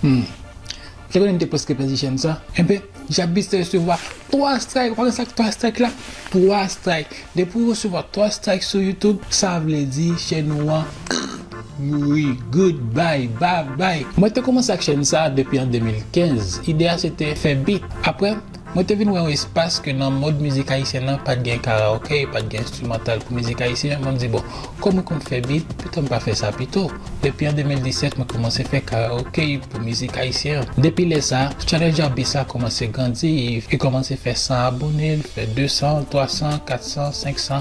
Humm te konnen m te preske pèdi chèn sa enben Jabis te resevwa 3 strike ou konnen sak 3 strike la 3 strike depi ou resevwa 3 strike sou YouTube sa vle di chèn ou an mouri good bye babay. Mwen te kòmanse ak chèn sa depi an 2015 ide a se te fè beat aprè Mwen te vin wè yon espas ke nan mòd mizik ayisyen nan pat gen karaoke, pat gen enstrimantal pou mizik ayisyen, mwen di bon, kòm mwen konn fè beat, poutan m pa fè sa pito? Epi an 2017 mwen kòmanse fè karaoke pou mizik ayisyen an. Depi lè sa, channel Djabis la kòmanse grandi, li kòmanse fè 100 abone, li fè 200, 300, 400, 500,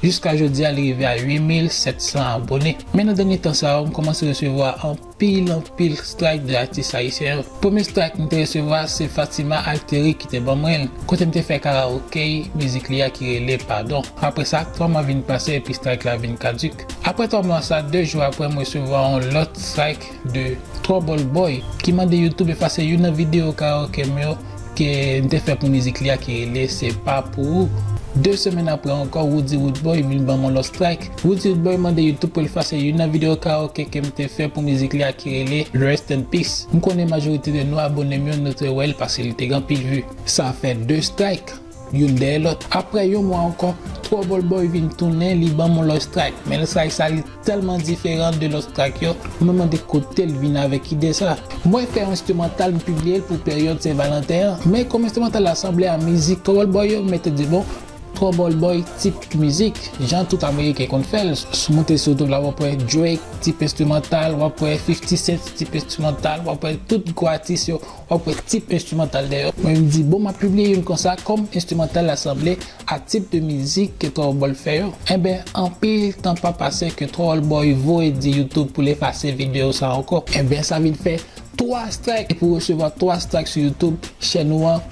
jiska jodi a li rive a 8700 abone. Men nan dènye tan sa yo, m kòmanse resevwa anpil. Peyi lan pil strike de atis ayisyen yo. Premye strike m te resevwa se Fatima Alteri ki te ban mwen l, kote m te fè karaokey mizik li a ki rele Padon. Apre sa, 3 mwa vin pase epi strike la vin kaduk. Apre 3 mwa sa, 2 jou apre m resevwa yon lòt strike de Trouble Boy ki mande YouTube efase youn nan video karaoke m yo, Ke m te fè pou mizik li a ki rele Se pa pou ou. De semèn apre ankò Roody Roodboy vin banm yon lòt strayk. Roody Roodboy mande YouTube pou l efase youn nan videyo karaoke ke m te fè pou mizik li a ki rele Rest in Peace. M konnen majorite de nou abone m yo nou te wè l pase li te gen anpil vue. Sa fè 2 strayk. Youn dèyè lòt aprè yon mwa ankò Trouble Boy vin tounen li banm yon lòt strike men lòt strike sa li tèlman diferan de lòt strike yo mwen mande kotel vin avèk ide sa mwen fè yon enstrimantal m pibliyel pou peryòd sen valanten an men kòm enstrimantal la sanble a mizik Trouble Boy yo m mèt di bon Trouble Boy tip mizik jan tout ameriken konn fèl sou moute sou youtube la wap wè Drake tip enstrimantal wap wè 50 cent tip enstrimantal wap wè tout gwo atis yo Wap wè tip enstrimantal dèyè. Mwen m di bon map pibliye youn konsa kòm enstrimantal la sanble a tip de mizik ke Thoroldboy fè yo. Enben anpil tan pa pase ke Thoroldboy voye di YouTube pou l efase video sa ankò. Enben sa vin fè 3 strike epi w resevwa 3 strike sou YouTube chèn ou an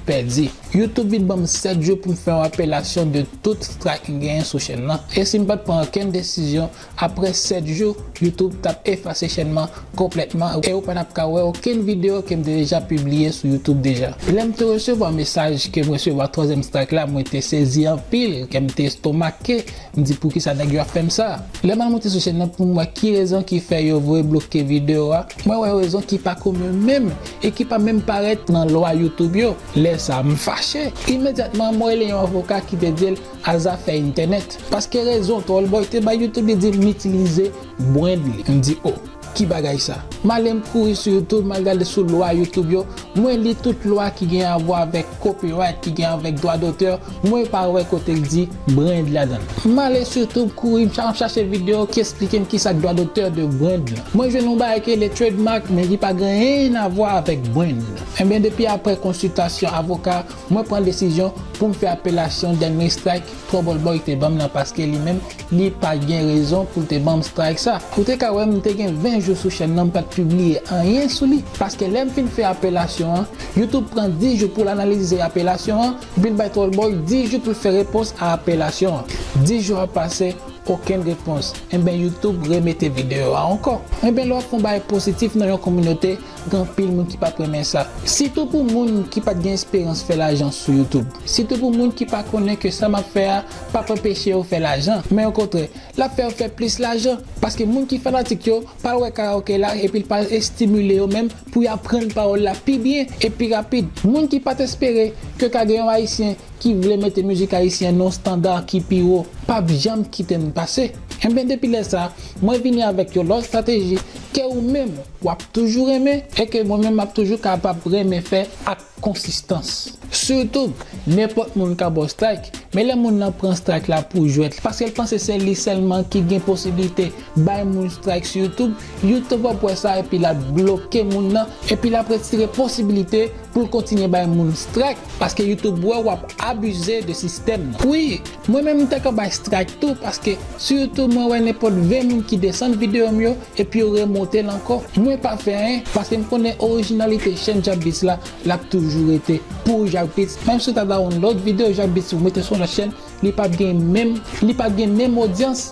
pèdi. YouTube vin banm 7 jou pou m fè yon apelasyon de tout strike m genyen sou chèn lan. E si m pat pran okenn desizyon Aprè 7 jou, YouTube tap efase chèn man konplètman e ou pa tap ka wè okenn video kem te deja pibliye sou YouTube deja. Lèm te resevwa mesaj kem resevwa twazyèm strike la mwen te sezi anpil, kèm te estomake, m di poukisa nèg yo ap fèm sa. Lèm al monte sou chèn nan poum wè ki rezon ki fè yo vle bloke video a, mwen wè rezon ki pa komen menm e ki pa menm parèt nan lwa YouTube yo. Lè sa m fache. Imedyatman mwen rele yon avoka ki te dil a zafè entènèt paske rezon Tallboy te bay youtube li di m itilize brand li m di oh ki bagay sa m ale m kouri sou youtube m al gade sou lwa youtube yo mwen li tout lwa ki gen avwa avèk copyright ki gen avèk dwa dotè mwen pa wè kote l di brand ladann m ale sou youtube kouri m ap chache video ki esplike m kisa k dwa dotè de brand lan mwen jwenn yon bagay ki rele trademark men ki pa gen anyen avwa avèk brand enben depi aprè konsiltasyon avoka Mwen pran desizyon poum fè apelasyon dènye strike Trouble Boy te banm nan paske li menm li pa gen rezon poul te banm strike sa. Ou te ka wèm mte gen 20 jou sou chèn nan mpat pibliye anyen sou li paske lèm fin fè apelasyon an YouTube pran 10 jou poul analize apelasyon an epil bay Trouble Boy 10 jou poul fè repons a apelasyon an. 10 jou ap pase okenn repons enben YouTube remete video a ankò. Enben lè wap fon bagay positif nan yon kominote Gen anpil moun ki pap renmen sa. Sitou pou moun ki pat gen esperans fè lajan sou youtube. Sitou pou moun ki pa konnen ke sa map fè a pap anpeche yo fè lajan. Men okontrè, lap fè yo fè plis lajan. Paske moun ki fanatik yo pral wè karaoke la epi l pral estimile yo menm pou y aprann pawòl la pi byen e pi rapid. Moun ki pat espere ke ka gen yon ayisyen ki vle mete mizik ayisyen nan yon standa ki pi wo pap janm kite n pase. Enben depi lè sa, mwen vini avèk yon lòt strateji ke ou menm w ap toujou renmen e ke mwen menm m ap toujou kapab renmen fè ak konsistans. Sitou, nenpòt moun ka ba w strayk, men lè moun lan pran strayk la pou jwèt paske l panse se li sèlman ki gen posiblite bay moun strayk sou youtube, youtube ap wè sa epi l ap bloke moun lan epi l ap retire posiblite pou l kontinye bay moun strayk paske youtube wè w ap abize de sistèm nan. Wi! Mwen menm m ta ka bay strike tou paske surtout mwen wè nenpòt 20 moun ki desann video m yo epi yo remonte l ankò mwen pa fè anyen paske m konnen orijinalite chèn Jacbitz la lap toujou rete pou Jacbitz menm si w ta dawonlòd video Jacbitz ou mete sou yon lòt chèn li pap gen menm li pap gen menm odyans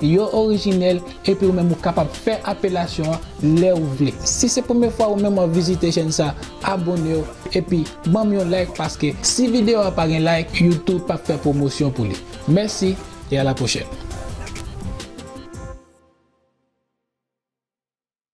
Yo orijinèl epi ou menm ou kapab fè apelasyon an lè ou vle. Si se premye fwa ou menm wap vizite chèn sa abonew epi banm yon like paske si video a pa gen like YouTube pap fè pwomosyon pou li. Mèsi e a la pwochèn.